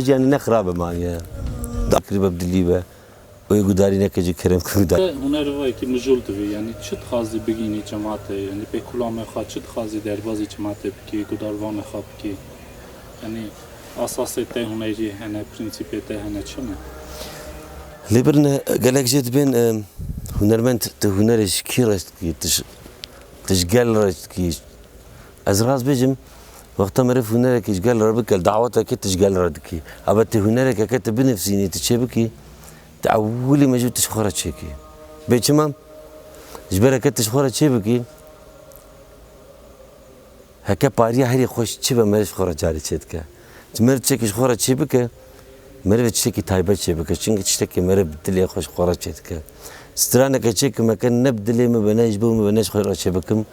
Jiyanê ne xirabe maniye da kiribe bi dilî be û yê gudarî neke ji kerem ke gudarî. Te hunerê xwe yekî mijûl dibî yanî çi dixwazî bigînî çemate yanî pê kulame xwe çi dixwazî derbazî çemate bikî gudarvane xwe bikî yanî esasê te hunerî hene prînsîpê te hene çi ne? Lê birine gelek jê dibên hunermend tu hunerê ji kî reş dikî tu ji gel reş dikî Ez rast bêjim, wexta meriv hunerekî ji gel re bike, li dawetekê tu ji gel re dikî. Ebe tu hunerekeke tu binivsînî, tu çêbikî, tu ewilî mecbûr tu ji xwe re çêkî. Bê çima? Ji ber eke tu ji xwe re çêbikî, heke pariya herî xweş çi be meriv ji xwe re carî çêdike. Tu meriv tiştekî ji xwe re çêbike, merivê tiştekî taybet çêbike. Çimkî tiştekî meriv bi dilê xwe ji xwe re çêdike. Straneke çê ku me ken ne bi dilê min be ne ji bo min be ne ji xwe re çêbikim.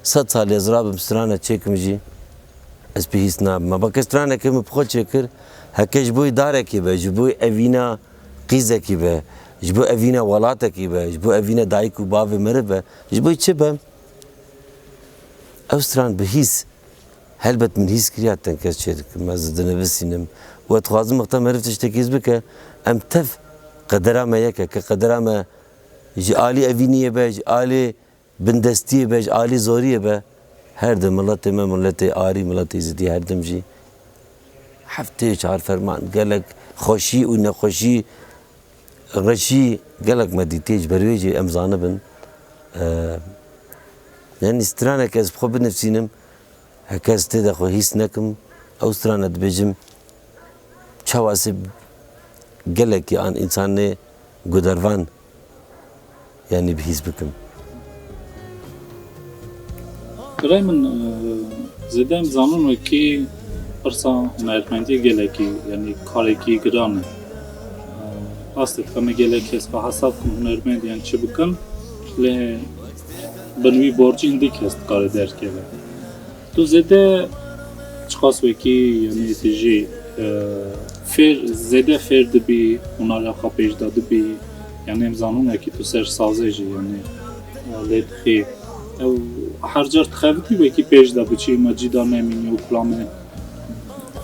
Sed salî ez rabim stranek çêkim jî ez pê hîs nabim. Ava ke stranekê min bi xwe çêkir heke ji bo darekî be, ji bo evîna qîzekî be, ji bo evîna welatekî be, ji bo evîna dayik û bavê meriv be, ji bo çi be ew stran bi hîs Helbet min hîs kiriya tenkez çê dikim, ez dinivîsînim û ez dixwazim wexta meriv tiştekî hîs bike, em tev qedera me yek e, ke qedera me ji alî evîniyê be, ji alî bindestiyê be, ji alî zoriyê be, her di miletê me, miletê arî, miletê êzidî her dem jî heftê çar ferman gelek xweşî û nexweşî, Reş jî gelek me dîtiye, ji ber wê jî em zanibin. Yanî straneke ez bi xwe binivîsim, heke ez tê de xwe hîs nekim, ew strana dibêjim, çawa sê gelekî an însan nê gudervan. Yanî bi hîs bikim. Birayê min zêde em dizanin wekî pirsa hunermendî gelekî yanî karekî giran e. Rast e dixeme gelek kes xwe hesab bikin hunermend yan çi bikin lê bin wî borcî hindî kes dikare derkeve. Tu zêde çiqas wekî yanî tu jî fêr zêde fêr dibî hunara xwe pêş de dibî yanî em zanin wekî tu ser sazê jî yanî lê dixî ew her car dixebitî wekî pêş de biçî me cî da nemînî û kulamê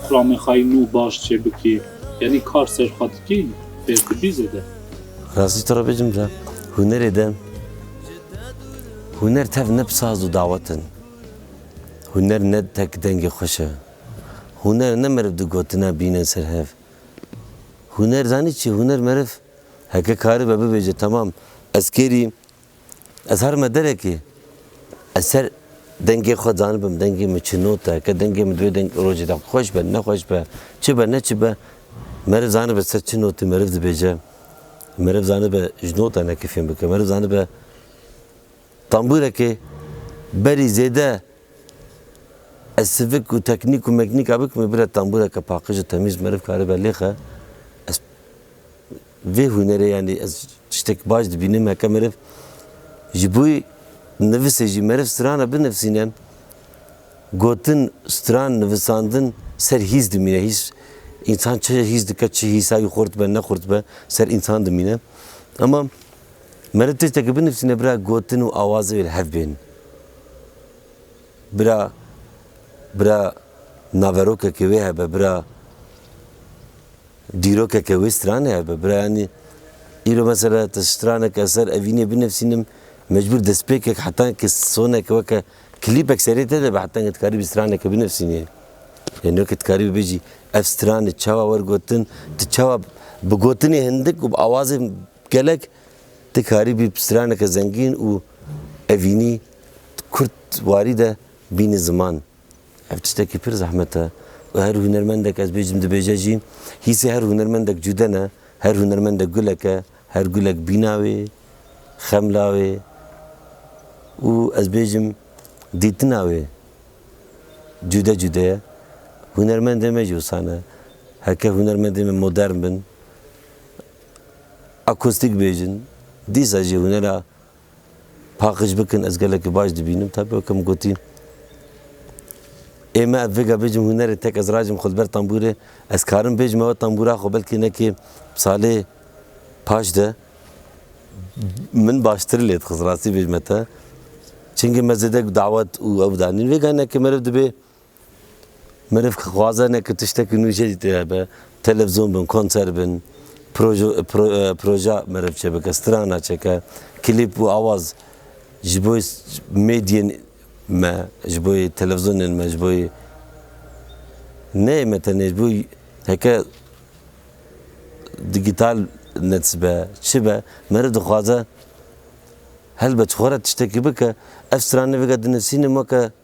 kulamê xwe yî nû baş çê bikî yanî kar ser xwe dikî fêr dibî zêde. Rastî te re bêjim re hunerê de huner tev ne bi saz û dawet in. Huner ne tek dengê xweş e. Huner ne meriv di gotina bîne ser hev. Huner zanî çi ye? Huner meriv heke karibe bibêje temam ez kêrî, ez herime derekê ez ser dengê xwe zanibim, dengê min çi not e, heke dengê min divê deng rojê de xweş be, nexweş be, çi be, ne çi be, meriv zanibe ser çi notê meriv dibêje. Meriv zanibe ji notan heke fêm bike. Meriv zanibe. Tembûrekê berî zêde ez sivik û teknîk û meknîka bikim ê bire tembûreke paqij û temîz meriv karibe lêxe. Ez vê hûnerê yanî ez tiştek baş dibînim heke meriv ji bo nivisê jî meriv strana binivsîne gotin stran nivisandin ser hîs dimîne hîs însan çi hîs dike çi hîsa wî xurt be nexurt be ser însan dimîne. Ema. Meriv tiştekî binivîsîne bira gotin û awazê wê li hev bên. Bira bira naverokekê wê hebe, bira dîrokeke wê stranê hebe, bira yanî îro mesela tu straneke li ser evînê binivîsînim mecbûr destpêkek heta ke soneke weke klîpek serê te de be heta ke tu dikarîbî straneke binivîsînî. Yanî weke tu dikarîbî bêjî ev stranê çawa wergotin, tu çawa bi gotinê hindik û bi awazê Gelek dikarî bî straneke zengîn û evînî kurt warî de bînî ziman. Ev tiştekî pir zehmet e û her hunermendek ez bêjim dibêje jî hîsê her hunermendek cude ne. Her hunermendek gulek e, her gulek bîna wê, xemla wê û ez bêjim dîtina wê cude cude ye. Hunermendên me jî wisan e. Heke hunermendên me modern bin. Akustik bêjin, dîsa jî hunera paqij bikin ez gelekî baş dibînim. Taybî weke min gotî ê me ev vêga bêjin hunerê tek ez rajim xwe li ber tambûrê ez karim bêjim ew e tambûra xwe belkî nekê salê paş de min baştir lê dixist rastî bêjme te. Çingî me zêde dawet û ew danîn vêga ne ke meriv dibê Meriv ki xwaze ne ki tiştekî nû jê dîtî hebe, televizyon bin, konser bin, proja meriv çêbike, strana çêke, klîp û awaz ji bo mêdyên me, ji bo televizyonên me, ji bo neyê me tenê ji bo heke dîgîtal nets be, çi be, meriv dixwaze helbet ji xwe re tiştekî bike, ev stranê veke dinivîsînê weke.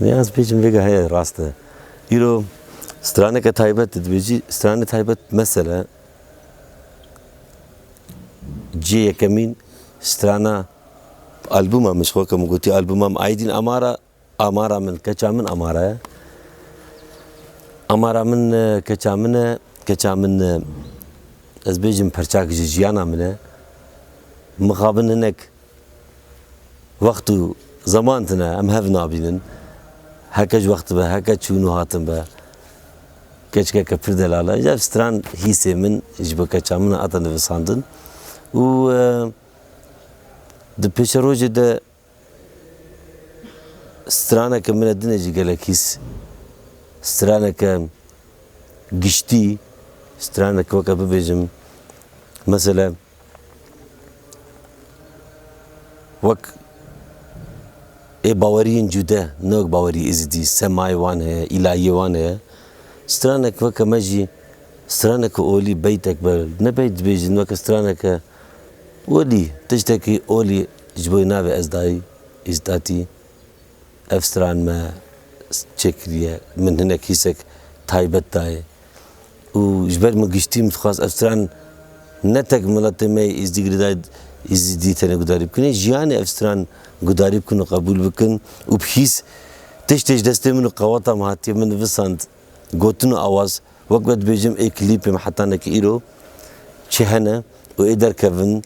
Vê ez bêjim vêga heye rast e. Îro straneke taybet di dibêjî. Stranê taybet mesele cihê yekemîn strana albuma min ji xwe ke min gotî albuma min Aydîn Amara amara min keça min amara ye. Amara min keça min e, keça min ez bêjim perçak ji jiyana min e. Mixabin hinek Wext û zeman tune, em hev nabînin. Heke ji wextê be, heke çûn û hatin be, keçikeke pir delal e. Ji ev stran hîsê min ji bo keça min hate nivisandin û di pêşerojê de straneke min e dine jî gelek hîs, straneke giştî, straneke weke bibêjim, mesele. Wek ê baweriyên cûde, ne wek bawerî Êzidî, semayê wan heye, îlahiyê wan heye. Stranek weke me jî straneke olî, beytek be ne beyt dibêjin weke straneke olî, tiştekî olî ji bo navê ez dayî Îzdatî. Ev stran me çêkiriye, min hinek hîsek taybet dayê. û ji ber min giştî min dixwest ev stran ne tek miletê me yê Îzdî girêdayî Îzîdî tenê gudarî bikin ê jiyanê ev stran gudarî bikin û qebûl bikin û bi hîs tiştê ji destê min û qeweta min hatiye min nivisand gotin û awaz wek ve dibêjim ê klîpê me heta neke îro çi hene û ê derkevin.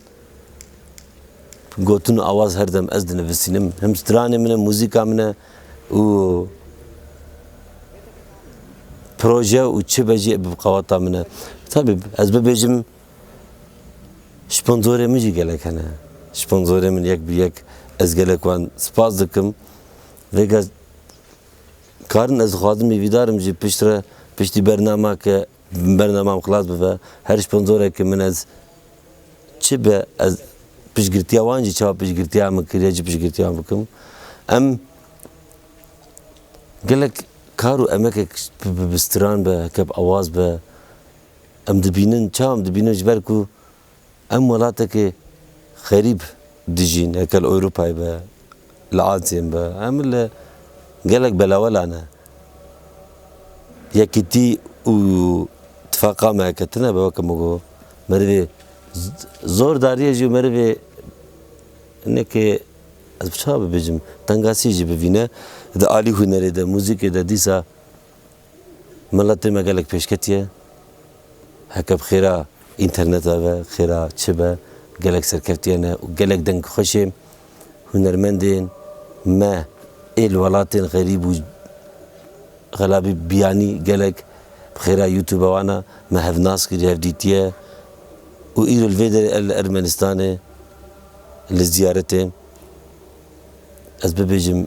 Gotin û awaz her dem ez dinivisînim. Him stranê min e, muzîka min e û proje û çi be jî bi qewata min e. Tabî ez bibêjim sponsorê min jî gelek hene. Sponsorê min yek bi yek ez gelek wan spas dikim. Vêga karin ez dixwazim îvîdarim jî piştre piştî bernameke Bernamam xilas bibe. Her sponsorek ke min ez çi be ez piştgirtiya wan jî çawa piştgirtiya min kiriye çi piştgirtiya wan bikim. Em gelek kar û emekek bi bi stran be heke bi awaz be em dibînin çawa em dibînin ji ber ku Em welatekî xerîb dijîn, heke li Ewropayê be, li Asiyê be, em li gelek belawela ne. Yekîtî û tifaqa me heke tune be, weke min got, merivê zor dariye jî û merivê hinekê ez bi çawa bibêjim, tengasî jî bivîne di alî hunerê de, muzîkê de, dîsa. Miletê me gelek pêş ketiye. Heke bi xêra înterneta be, xêra çi be gelek serkevtiyane û gelek dengxweşê hunermendên me ê li welatên xerîb û xelabî biyanî gelek bi xêra youtube wan a me hevnas kiriye, hevdîtiye û îro li vê derê ez li Ermenistanê li ziyaretê ez bibêjim.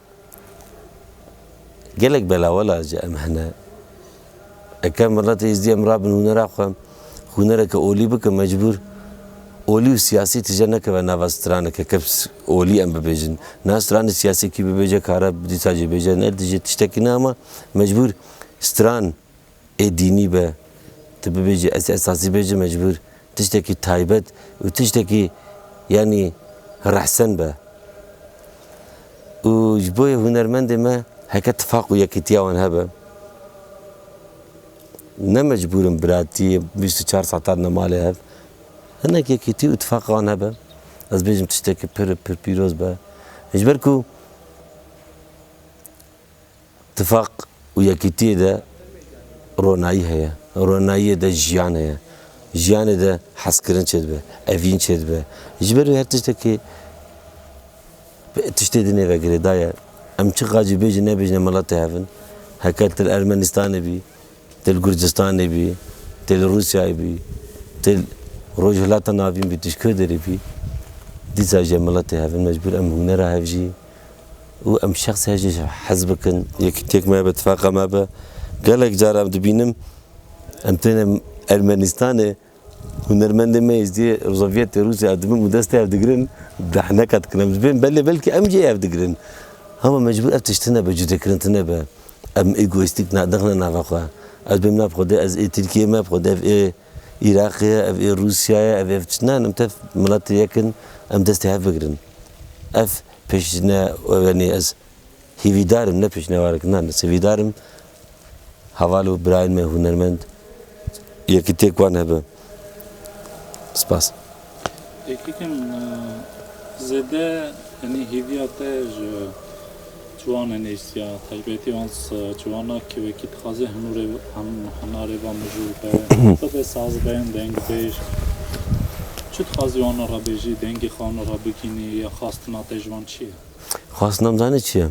Gelek bela wela ji em hene. Ekem milet êzdî em rabin hûnera xwe, hûnereke olî bikin mecbûr olî û siyasî tije nekeve nava straneke ke olî em bibêjin. Niha stranê siyasî kî bibêje kare dîsa jê bêje ne dijî tiştekî ne ama mecbûr stran Ê dînî be, tu bibêjî ez esasî bêjim mecbûr tiştekî taybet û tiştekî yanî rehsen be û ji bo yê hûnermendê me heke tifaq û yekîtiya wan hebe. Ne mecbûr in biratî bîst û çar saetan li malê hev. Hinek yekîtî û tifaqê wan hebe, ez bêjim tiştekî pir pir pîroz be. Ji ber ku. Tifaq û yekîtiyê de ronayî heye. Ronayiyê de jiyan heye. Jiyanê de hezkirin çêdibe, evîn çêdibe. Ji ber wê her tiştekê tiştê dinê vegirê daye. Em çiqas jî bêjin nebêjine mala te hev in. Heke tu li Ermenistanê bî, tu li Gurdistanê bî, tu li Rûsyayê bî, tu li Rojhilata Navîn bî, tu ji ku derê bî, dîsa jî em mala te hev in. Mecbûr em hûnera hev jî. û em şexsiya jî hez bikin, yekîtiyek me be, tifaqa me be. Gelek car em dibînim em têne Ermenîstanê hunermendên me Êzidiyê Rûzaviyetê Rûsya ew dibin û destê ew digirin behneka dikin em dibên belê belkî em jî ev digirin. Hema mecbûr ev tişt tune be, cudekirin tune be. Em egoîstîk nexne nava xwe. Ez bêm nav Xwedê ez ê Tirkiyeyê me, Xwedê ev ê. Îraqê ye, ev ê Rûsya ye, ev ê ev çi nan em tev miletê yek in, em destê hev bigirin. Ev pêşne wenê ez hîvîdar im ne pêşnewarek nan ez hîvîdar im heval û birayên me hûnermend yekitiyek wan hebe. Spas. Yekî zêde yanî hêviya te ji ciwan e nêrsiya taybetî wan ciwan a kî wekî dixwaze hinûrê hinarê va mijûl be bibe sazben dengbêj çi dixwazî wan re bêjî dengê xwe wan re bigînî ya xastina te ji wan çi ye? Xastina min zanî çi ye?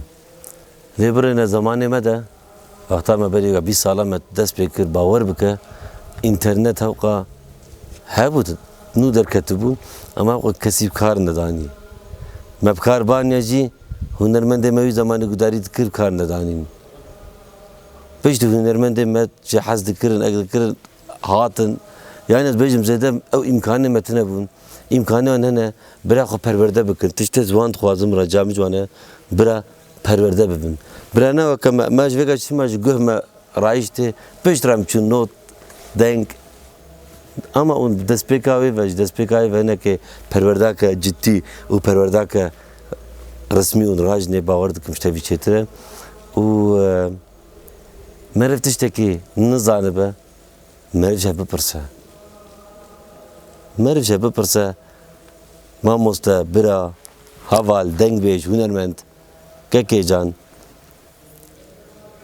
Vê birêne zemanê me de, wexta me berî bîst salan me dest pê kir, bawer bike înternet hewqa hebû nû derketibû em hewqa kesî bi kar nedanî. Me bi kar baniye jî hûnermendê me wî zemanê gudarî dikir bi kar nedanîn. Pişt hûnermendê me ji hez dikirin, eg dikirin. Hatin. Yanî ez bêjim zêde ew îmkanê me tine bûn. Îmkanê wan hene bira xwe perwerde bikin. Tiştê ziwan dixwazin min re ca min ji wan e bira perwerde bibim. Bira ne weke me, me ji vê ke çima ji guh me rayîştê pişt re em çûn not, deng. Ama û destpêka wê ve ji destpêka wê ve hinekê perwerdake cidî û perwerdake resmî û rajnê bawer dikim ji tevî çêtir e û. Meriv tiştekî nizanibe, meriv jî bipirse. Meriv jî bipirse, mamoste, bira, heval, dengbêj, hûnermend, kekê can,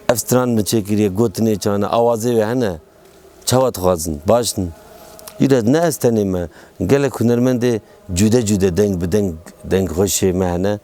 ev stran min çêkiriye, gotinê can e, awazê wê hene, çawa dixwazin, baş in? Îro ne ez tenê me, gelek hûnermendê cude cude deng bi deng, deng xweşê me hene.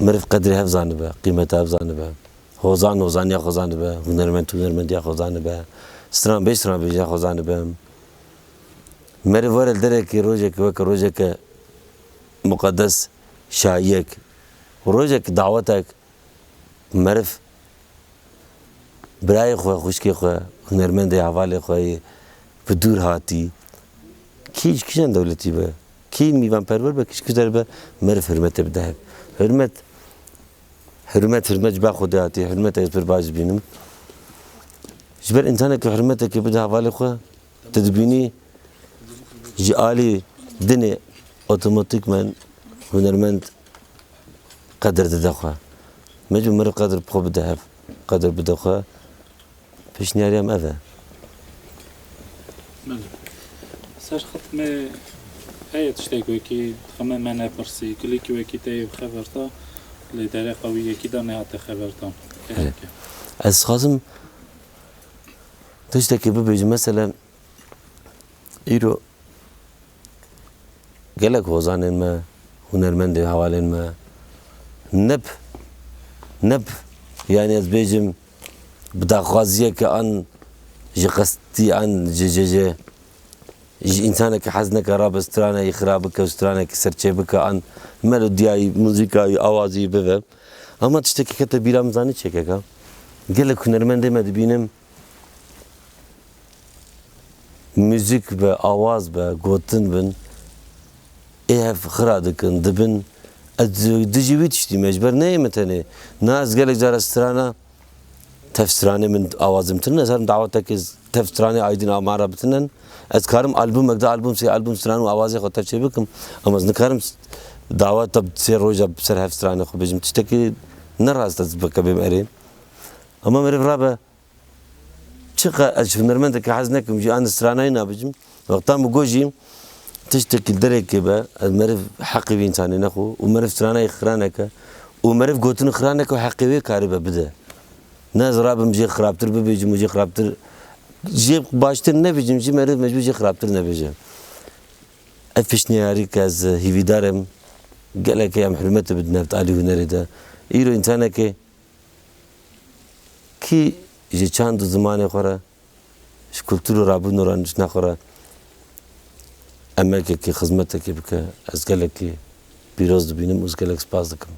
Meriv qedrê hev zanibe, qîmeta hev zanibe. Hozan hozaniya xwe zanibe, hunermend hunermendiya xwe zanibe, stranbêj stranbêjiya xwe zanibe. Meriv were li derekê rojekê weke rojeke muqedes, şayiyek, rojek, dawetek meriv birayê xwe, xwişkê xwe, hunermendê hevalê xwe yê bi dûr hatî kî ji kîjan dewletî be, Kî mîvanperwer be, kî ji kişder be meriv hurmetê bide hev. Hurmet, hurmet, hurmet ji ber Xwedê hatiye, hurmetê ez pir baş dibînim. Ji ber însanekî hurmetekê bide hevalê xwe, tu dibînî ji alî dinê otomatîkmen hunermend qedir dide xwe. Mecbûr meriv qedir bi xwe bide hev, qedir bide xwe. Pêşniyarê em ev e. Belê. Serxit me heye tiştek wekî dixeme me nepirsî. Kilîkî wekî te yê bixeverta lê dereqa wî yekî da nehate xevertan. Kesik e. Ez dixwazim tiştekî bibêjim mesele îro gelek hozanên me, hunermendê hevalên me neb neb yanî ez bêjim bi daxwaziyeke an ji qestî an ji ji ji ji însaneke hezneke rabe straneyî xira bike û stranekî serçê bike an melodiyayî, muzîkayî, awazî bibe. Ama tiştekî kete bîra min zanî çêkek a? Gelek hunermendê me dibînim muzîk be, awaz be, gotin bin Ê hev xira dikin, dibin. Ez dijî wî tiştî me, ji ber neyê min tenê. Na ez gelek caran strana tev stranê min awazê min tinin. Ez herim dawetekê tev stranê Aydin a man ra bitinen. Ez dikarim albumek du album sê album stran û awazê xwe tev çê bikim. Ama ez nikarim daweta sê roja bi ser hev stranê xwe bêjim. Tiştekî ne rast e ez bikevim erê. Ama meriv rabe. Çiqas ez ji hunermendeke hez nekim jî anî stranayî nabicim. Wextan bi ku jî tiştekî dereke be ez meriv heqê vî însanê nexwe û meriv stranayî xiraneke û meriv gotinî xiraneke û heqê wê karibe bide. Ne ez rabim jê xirabtir bibêjim û jê xirabtir jê baştir nebêjim jî meriv mecbûr jê xirabtir nebêje. Ev pêşniyarî ke ez hîvîdar im gelekê em hurmetê bidin hevtalî hunerê de. Îro însanekê Kî ji çand û zimanê xwe re, ji kultur û rabûn û randiştina xwe re emekekê, xizmetekê bike, ez gelekî pîroz dibînim û ji gelek spas dikim.